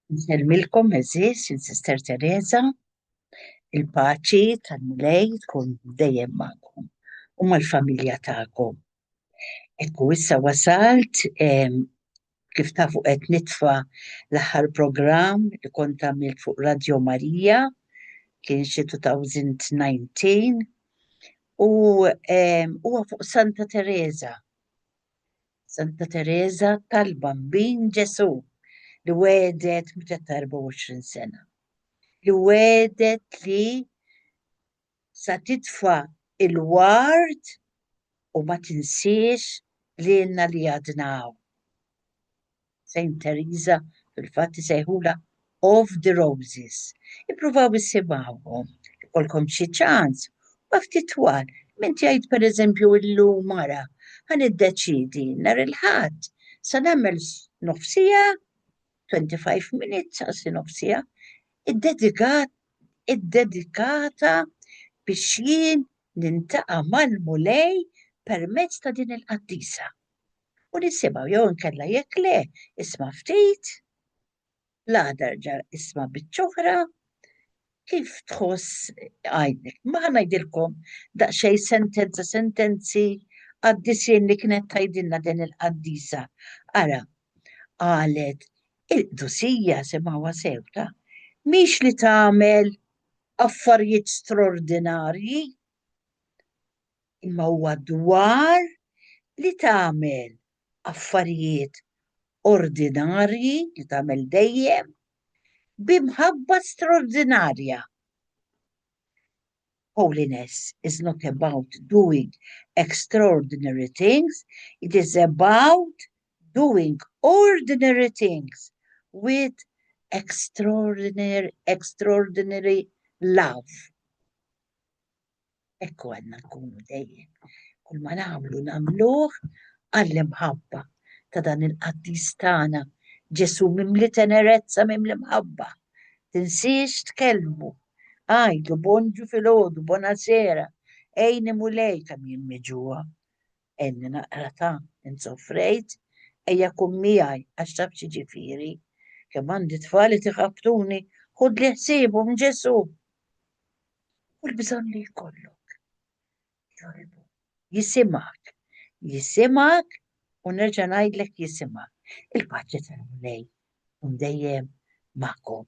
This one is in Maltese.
Nsellmilkom eżis, il-Sister Teresa, il-paċi tal-Mulej tkun dejjem magħkom u mal-familja tagħkom. Ekku issa wasalt kif tafu qed nitfa' l-aħħar programm li kont għamilt fuq Radio Marija, kien xi 2019, u ehm, huwa fuq Santa Teresa. Santa Teresa tal-Bambin Ġesu li wedet meta 24 sena. Li wedet li sa titfa' il-ward u ma tinsiex lilna li għadna hawn. Saint Teresa fil-fatt isejħulha of the roses. Ippruvaw issimgħuhom, ikollkom xi ċans, huma ftit twal. Min tgħid pereżempju illum ara ħa niddeċiedi nhar il-Ħadd sa nagħmel nofsiegħa 25 minutes għal sinopsija iddedikat iddedikata biex jien nintaqa' mal-Mulej permezz ta' din il-qaddisa u nisimgħu jew inkella jekk le isma' ftit l-għada erġa' isma' biċċ'oħra Kif tħoss għajnek? Ma ħa ngħidilkom daqsxejn sentenza sentenzi qaddisien li kienet tgħidilna din il-qaddisa. Ara, qalet il-qdusija simgħuha sew ta, mhix li tagħmel affarijiet strordinarji, imma huwa dwar li tagħmel affarijiet ordinarji li tagħmel dejjem bi mħabba straordinarja. Holiness is not about doing extraordinary things, it is about doing ordinary things with extraordinary, extraordinary love. Ekku għandna nkunu dejjem. Kull ma nagħmlu nagħmluh għall-imħabba ta' dan il-qaddis tagħna Ġesù mimli tenerezza mimli mħabba. Tinsiex tkellmu. Għidu bonġu filgħodu, bonasera, għini Mulej kemm jien miġugħa. Għenni naqra ta' insofrejt, ejja kun miegħi għax taf xi ġifieri. Kemm għandi tfal qed iħabbtuni, ħudli ħsiebhom Ġesù. u l-bżonn li jkollok. Joribu, jisimak, jisimak u nerġa' ngħidlek jisimak. Il-paċi tal-Mulej un dejjem magħkom.